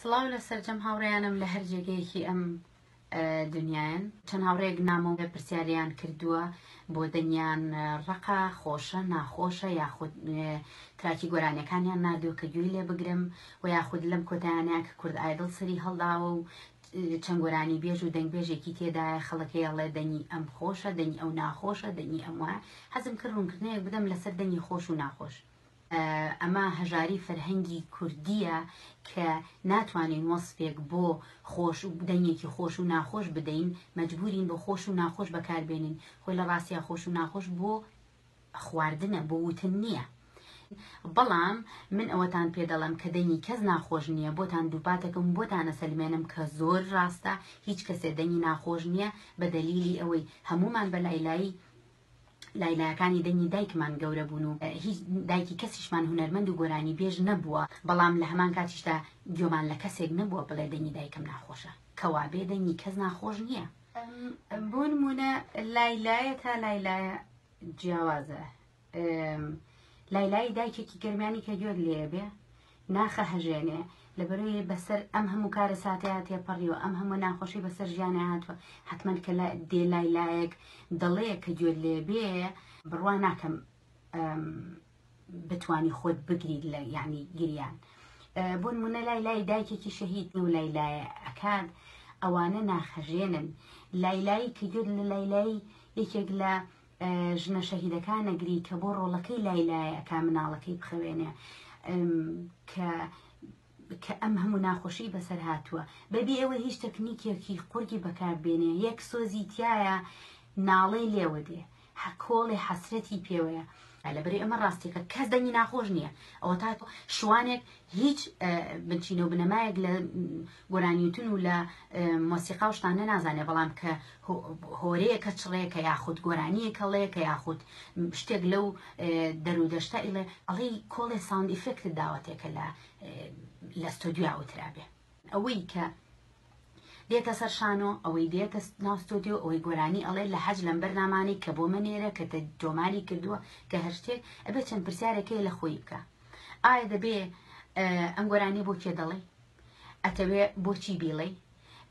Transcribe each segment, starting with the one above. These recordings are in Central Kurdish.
سڵاو لە سەرجەم هاوڕێیانم لە هەر جێگەیەکی ئەم دنیایان چەند هاوڕێک نامەوە پرسیاریان کردووە بۆ دەنگیان ڕقا خۆشە ناخۆشە یاخود تراکی گۆرانەکانیان نادوو کە گوێی لێ بگرم و یاخود لەم کۆتانەیە کە کورد ئایدڵ سەری هەڵداوە و چەند گۆرانی بێژ و دەنگبێژێکی تێدایە خەڵەکەی ئەڵێ دەنگی ئەم خۆشە دەنگی ئەو ناخۆشە دەنگی ئەم وایە حەزم کرد ڕوونکردنەیەک بدەم لەسەر دەنگی خۆش و ناخۆش ئەمە هەژاری فەرهەنگی کوردییە کە ناتوانین وەسفێک بۆ خۆش و دەنگێکی خۆش و ناخۆش بدەین، مەجبوورین بۆ خۆش و ناخۆش بەکاربێنین، خۆی لە ڕاستیا خۆش و ناخۆش بۆ خواردنە، بۆ وتن نییە. بەڵام من ئەوەتان پێ دەڵێم کە دەنگی کەس ناخۆش نییە، بۆتان دووپات دەکەم و بۆتان ئەسەلمێنم کە زۆر ڕاستە، هیچ کەسێ دەنگی ناخۆش نییە، بە دەلیلی ئەوەی هەموومان بە لای لای لای لایەکانی دەنگی دایکمان گەورە بوون و هیچ دایکی کەسیشمان هونەرمەند و گۆرانی بێژ نەبووە بەڵام لە هەمان کاتیشدا گوێمان لە کەسێک نەبووە بڵێ دەنگی دایکم ناخۆشە کەوابێ دەنگی کەس ناخۆش نییە بۆ نمونە لای لایە تا لای لایە جیاوازە لای لای دایکێکی گەرمیانی کە گوێت لێ بێ ناخە هەژێنێ لەبەروی بەسەر ئەم هەموو کارە ساتەیە تێپەڕیوە ئەم هەموو ناخۆشی بەسەر ژیانە هاتووە حتممەند کە دێ لای لایەک دەڵەیە کە گوێت لێ بێ بڕوا ناکەم بتانی خۆت بگریت لە یعنی گریان بۆ منە لای لای دایکێکی شەهید و لای لایە ئەکات ئەوانە ناخەژێنن لای لای کە گوێت لە لای لای یەکێک لە ژنە شەهیدەکان ئەگری کە بۆ ڕۆڵەکەی لای لایە ئەکا مناڵەکەی بخەوێنێ کە کە ئەم هەموو ناخۆشی بەسەر هاتووە بەبی ئەوە هیچ تەکنیکێکی قورگی بەکاربێنێ یەک سۆزی تایە ناڵەی لێوە دێ هەکۆڵێ حەسرەتی پێوەیە لەبری ئەمە ڕاستیەکە کەس دەنگی ناخۆش نییە ئەوە تا شوانێک هیچ بنچینە و بنەمایەک لە گۆرانیوتن و لە مۆسیقا و شتانە نازانێ بەڵام کە هۆرەیەکە چڕێکە یاخود گۆرانیە کەڵەیەکە یاخود شتێک لەو دەرودەشتا ئیڵێ ئەڵی کۆڵێ ساوند ئیفێکت داوەتێکە لە لە ستۆدیو وترابێ ئەوەی کە دێتە سەر شانۆ ئەوەی دێتە ناو ستۆدیۆ ئەوەی گۆرانی ئەڵێ لە حەج لەم بەرنامانەی کە بۆمە نێرە کە تۆماری کردووە کە هەر شتێک ئەبێ چەند پرسیارەکەی لە خۆی بکە ئایا دەبێ ئەم گۆرانی بۆ کێ دەڵێ ئەتەوێ بۆچی بیڵێ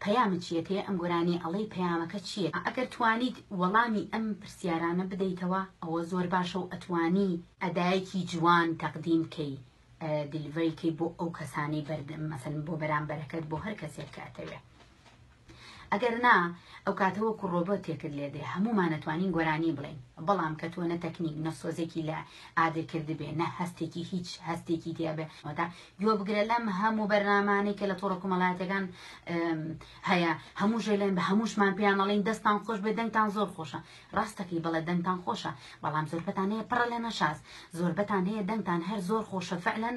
پەیامە چیە پێ ئەم گۆرانی ئەڵەی پەیامەکە چیە ئەگەر توانیت وەڵامی ئەم پرسیارانە بدەیتەوە ئەوە زۆر باشە و ئەتوانی ئەدایەکی جوان تەقدیم کەی دیلڤەری کەی بۆ ئەو کەسانەی بەردەم مەسەن بۆ بەرامبەرەکەت بۆ هەر کەسێک کاتەوێ ئەگەر نا ئەو کاتەوە کوڕۆبە تێکرد لێ دێ هەمومانەتوانین گۆرانی بڵێن بەڵام کە تۆنە تەکنیک نەسۆزێکی لە ئادر کردبێ نە هەستێکی هیچ هەستێکی دیابێ ئەودا گوێ بگرە لەم هەموو بەرنامانەی کە لە تۆڕە کومەڵاتەکان هەیە هەموو ژێلێن بە هەمووشمان پێیانەڵین دەستان خۆش بێ دەنگتان زۆر خۆشە ڕاستەکەی بەڵێ دەنگتان خۆشە بەڵام زۆربەتان هەیە پڕە لە نەشاز زۆربەتان هەیە دەنگتان هەر زۆر خۆشە فعلەن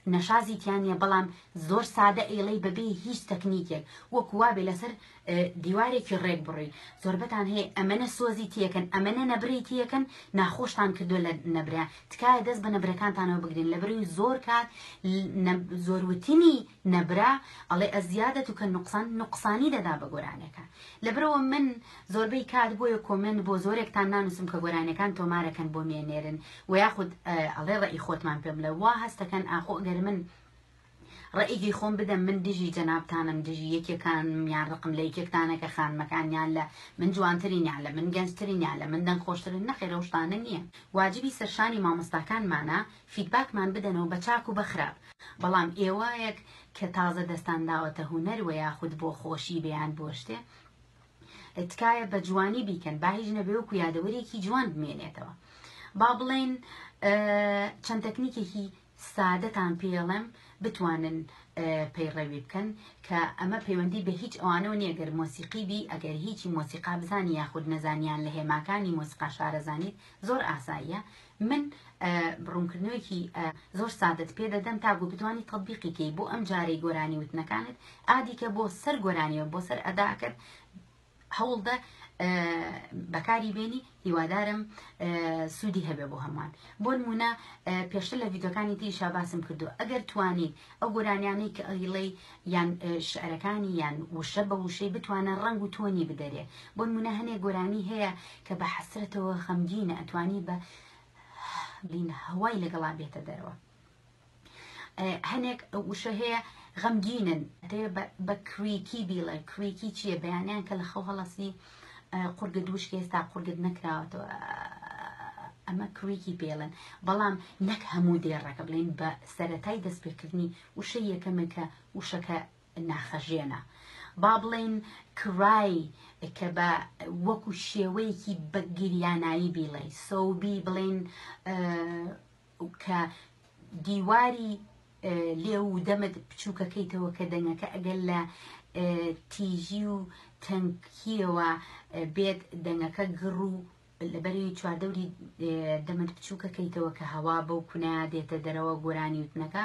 نەشازی تیا نیە بەڵام زۆر سادە ئەیڵەی بەبێ هیچ تەکنیکێک وەکو وابێ لەسەر دیوارێکی ڕێک بڕۆی زۆربەتان هەیە ئەمەنە سۆزی تیەکەن ئەمەنە نەبری تیەکەن ناخۆشتان کردو لە نەبرا تکایە دەست بە نەبرەکانتانەوە بگرین لەبروی زۆر کات زۆروتنی نە برا ئەڵێ ازیادت کالنقصان نوقسانی دەدا بە گۆرانیەکان لەبرەوە من زۆربەی کات بۆیە کۆمێنت بۆ زۆرێکتان نانوسم کە گۆرانیەکان تۆمارەکەن بۆ مێ نێرن وە یاخود ئەڵێ ڕەئی خۆتمان پێ بڵێ وا هەستەکەن ئاخۆ گەر من ڕەئیگەی خۆم بدەم من دژی جەنابتانم دژی یەکێکان یان ڕقم لە یەکێکتانە کە خانمەکان یان لە من جوانترین یان لە من گەنجترین یان لە من دەنگ خۆشترن نەخێر ئەو شتانە نییە واجبی سەرشانی مامۆستاکانمانە فیدباکمان بدەنەوە بە چاک و بە خراپ بەڵام ئێوایەک کە تازە دەستان داوەتە هونەر وە یاخود بۆ خۆشی بیان بۆ شتێ تکایە بە جوانی بیکەن با هیچ نەبێ وەکو یادەوەریەکی جوان بمێنێتەوە با بڵێن چەند تەکنیکێکی سادەتان پێڵێم بتوانن پەیڕەوی بکەن کە ئەمە پەیوەندی بە هیچ ئەوانەوە نیە گەر مۆسیقی بی ئەگەر هیچی مۆسیقا بزانی یاخود نەزانیان لە هێماکانی مۆسیقا شارەزانیت زۆر ئاساییە من ڕونکردنەوەیەکی زۆر سادەت پێ دەدەم تاگو بتوانی تەبیقی کەی بۆ ئەم جارەی گۆرانی وتنەکانت ئادیکە بۆ سەر گۆرانیەوە بۆ سەر ئەداکرد هەوڵدە بەکاری بێنی هیوادارم سوودی هەبێ بۆ هەمووان بۆ نمونە پێشتر لە یددیوەکانی تری شاباسم کردو ئەگەر توانیت ئەو گۆرانیانەی کە ئەیڵێی یان شعرەکانی یان وشە بە وشەی بتوانە ڕەنگ و تۆنی بدەرێ بۆ نمونە هەنێ گۆرانی هەیە کە بە حەسرەتەوە خەمگینە ئەتوانی بە بین هەوای لەگەڵا بێتە دەرەوە هەنێک وشە هەیە غەمگینن بە کریکی بیڵێ کریکی چییە بەیانیان کە لە خەو هەڵەسی قورگت وشکە ئێستا قورگت نەکراوەتەوە ئەمە کریکی پێڵێن بەڵام نەک هەموو دێڕەکە بڵێن بە سەتای دەستپێکردنی وشە یەکەمە کە وشەکە ناخەژێنە با بڵێن کرای کە بە وەکو شێوەیەکی بەگیریانایی بیڵێ سەوبی بڵێن کە دیواری لێو و دەمت بچووکەکەیتەوە کە دەنگەکە ئەگەر لە تیژی و تەنکیەوە بێت دەنگەکە گڕ و لەبەری چواردەوری دەمت بچووکەکەیتەوە کە هەوا بەو کونە دێتە دەرەوە گۆرانی وتنەکە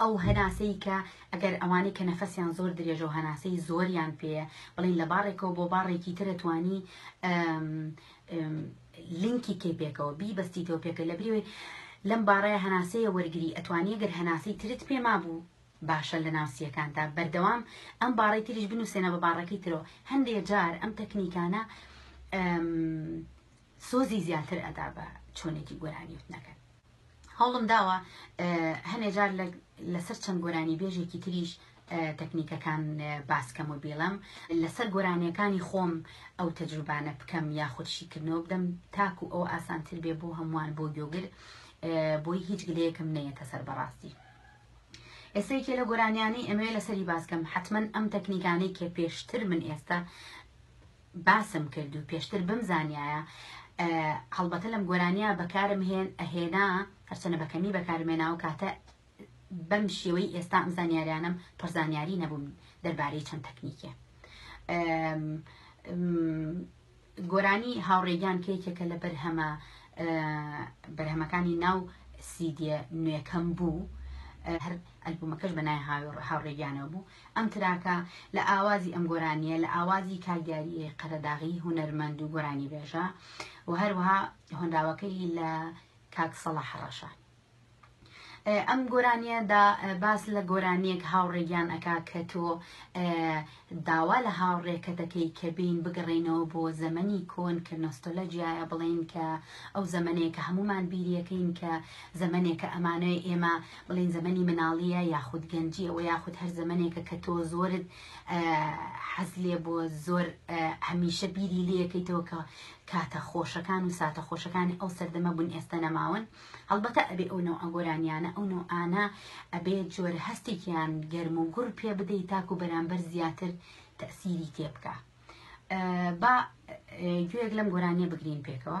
ئەو هەناسەی کە ئەگەر ئەوانەی کە نەفەسیان زۆر درێژە و هەناسەی زۆریان پێیە بڵین لە باڕێکەوە بۆ باڕێکی ترە توانی لینکی کەی پێکەوە بی بەستیتەوە پێکە لە بریوەی لەم باڕای هەناسەیە وەرگری ئەتوانی گەر هەناسەی ترت پێ مابوو باشە لە ناوسیەکاندا بەردەوام ئەم باڕی تریش بنووسێنە بە باڕەکەی ترەوە هەندێک جار ئەم تەکنیکانە سۆزی زیاتر ئەدا بە چۆنێتی گۆرانی وتنەکەت هەوڵم داوە هەنێ جار لەسەر چەند گۆرانی بێژێکی تریش تەکنیکەکان باسکەم و بیڵم لەسەر گۆرانیەکانی خۆم ئەو تەجروبانە بکەم یا خودشیکردنەوە بدەم تاکو ئەو ئاسانتر بێ بۆ هەمووان بۆ گۆگر بۆی هیچ گلەیەکم نەیەتە سەر بەڕاستی ئێسەیکێ لە گۆرانیانەی ئەمەوێ لەسەری باسکەم حتمما ئەم تەکنیکانەی کە پێشتر من ئێستا باسم کرد و پێشتر بمزانیایە هەڵبەتە لەم گۆرانیە بەکارم هێن ئەهێنا هەرچەنە بەکەمی بەکارم هێنا و کاتە بەم شێوەی ئێستا ئەم زانیاریانم پڕزانیاری نەبووم دەربارەی چەند تەکنیکێ گۆرانی هاوڕێگیان کێکێکە لە بەرهەمە بەرهەمەکانی ناو سیدیە نوێکەم بوو هەر ئەلبوومەکەش بەنای هاوڕێگیانەوە بوو ئەم تراکە لە ئاوازی ئەم گۆرانیە لە ئاوازی کاک دیاریی قەرەداغی هونەرمەند و گۆرانیبێژە و هەروەها هۆنراوەکەی لە کاک سەڵاح ڕەشە ئەم گۆرانیەدا باس لە گۆرانیەک هاوڕێگیان ئەک کە تۆ داوا لە هاوڕێکە دەکەی کە بین بگەڕێنەوە بۆ زەمەنی کۆن کە نۆستۆلە جیایە بڵین کە ئەو زەمنەیە کە هەمومان بیریەکەین کە زەمنێکە ئەمانەوەی ئێمە بڵێن زەمەنی مناڵیە یاخود گەنجیە وە یاخود هەر زەمنێکە کە تۆ زۆرت حەز لێ بۆ زۆر هەمیشە بیری لەکەیتەوە کە کاتە خۆشەکان و ساتە خۆشەکانی ئەو سەردەمە بوون ئێستا نەماون هەڵبەتە ئەبێ ئەو نەوە ئەگۆرانیانە ئەو نەوە ئانا ئەبێ جۆر هەستێکیان گەرم و گوڕ پێ بدەیت تاکو بەرامبەر زیاتر تەسیری تێبکە با گوێک لەم گۆرانیە بگرین پێکەوە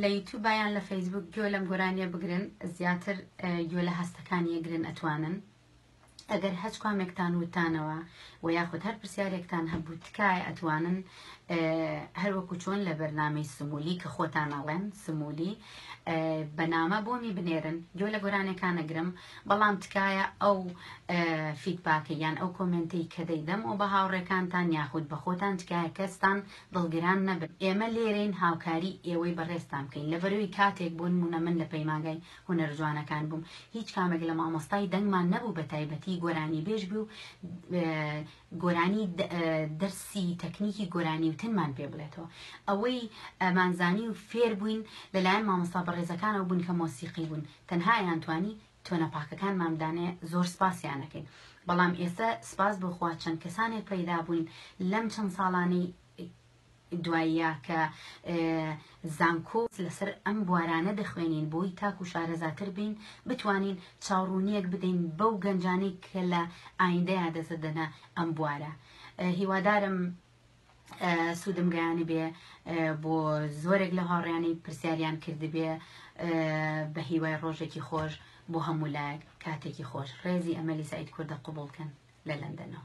لە یوتوبا یان لە فەیسبوک گوێ لەم گۆرانیە بگرن زیاتر گوێ لە هەستەکانی یەگرن ئەتوانن ئەگەر هەچ کامێکتان وتانەوە و یاخود هەر پرسیارێکتان هەبوو تکایە ئەتوانن هەروەکو چۆن لە بەرنامەی سمولی کە خۆتان ئەڵێن سمولی بەنامە بۆمی بنێرن گوێ لە گۆرانەکانەگرم بەڵام تکایە ئەو فیدباکە یان ئەو کۆمنتی کە دەیدەم و بە هاوڕێکانتان یاخود بە خۆتان تکایە کەستان دڵگران نەبن ئێمە لێرەین هاوکاری ئێوەی بەڕێزتان بکەین لەبەروی کاتێک بۆ نمونە من لە پەیمانگای هونەرە جوانەکان بووم هیچ کامێک لە مامۆستای دەنگمان نەبوو بەتایبەتی گۆرانیبێژ بێ و گۆرانی دەرسی تەکنیکی گۆرانیوتنمان پێ بڵێتەوە ئەوەی ئەمانزانی و فێر بووین لەلایەن مامۆستا بەڕێزەکانەوە بوون کە مۆسیقی بوون تەنها ئەیانتوانی تۆنە پاکەکان مام دانێ زۆر سپاسیان ئەکەین بەڵام ئێستا سپاس بۆ خوا چەند کەسانێک پەیدا بووین لەم چەند ساڵانەی دواییە کە زانکۆ لەسەر ئەم بوارانە دەخوێنین بۆی تاکو شارەزاتر بین بتوانین چاوڕوونیەک بدەین بەو گەنجانەی کە لە ئایندەیان دەزدەنە ئەم بوارە هیوادارم سوودم گەیانبێ بۆ زۆرێک لە هاوڕیانی پرسیاریان کردبێ بە هیوای ڕۆژێکی خۆش بۆ هەموو لایەک کاتێکی خۆش ڕێزی ئەمەلی سعید کوردە قوبڵکەن لە لەندەنەوە